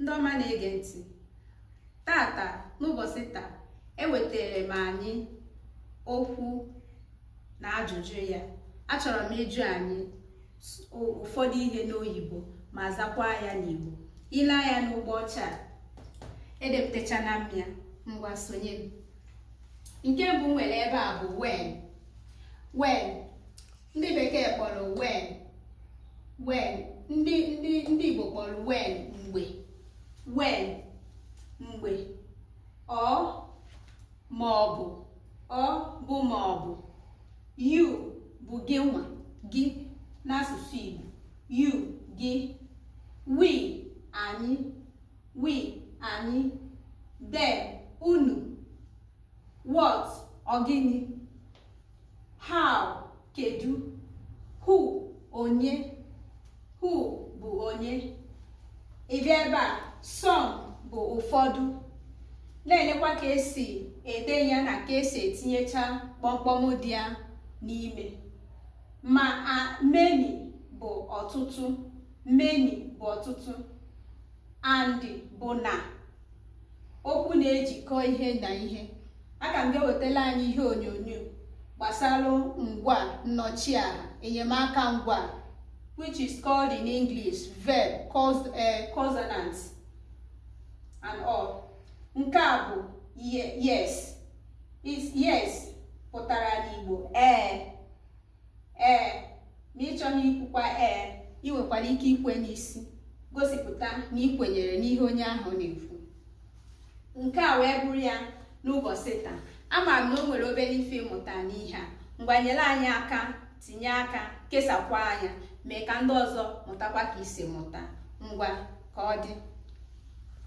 ndị ọma na-ege ntị taata n'ụbọchị taa ewetara m anyị okwu na ajụjụ ya achọrọ m ịjụ anyị ụfọdụ ihe n'oyibo ma zakwa ya n'igbo i lee anya n'ụgbọ ọcha edepụtachana m ya ngwa sonye m nke mbụ nwere ebe a bụ when when ndị bekee kpọrọ when when ndị ndị ndị igbo kpọrọ when mgbe when mgbe or ma ọ bụ or bụ ma ọ bụ you bụ gị nwa gị n'asụsụ igbo you gị we anyị we anyị them unu what ọ gịnị how kedu who onye who bụ onye ị bịa ebe a some bụ ụfọdụ na-elekwa ka e si ede ya na ka e si etinyecha kpọmkpọm dị ya n'ime ma a many bụ ọtụtụ many bụ ọtụtụ and bụ na okwu na-ejikọ ihe na ihe aka m ga-ewetala anyị ihe onyonyo gbasara ngwaa nnọchiaha enyemaka ngwaa which is called in English verb eh, consonant and all nke a bụ yes yes pụtara n'Igbo ee eh. ee ma ị chọghị ikwukwa ee i nwekwara ike ikwe n'isi gosipụta na i kwenyere n'ihe onye ahụ na-ekwu nke a wee bụrụ ya n'ụbọchị taa ama m na o nwere obere ife ị mụta n'ihe a ngwa nyere anyị aka tinye aka kesakwaa ya mee ka ndị ọzọ mụtakwa ka i si mụta ngwa ka ọ dị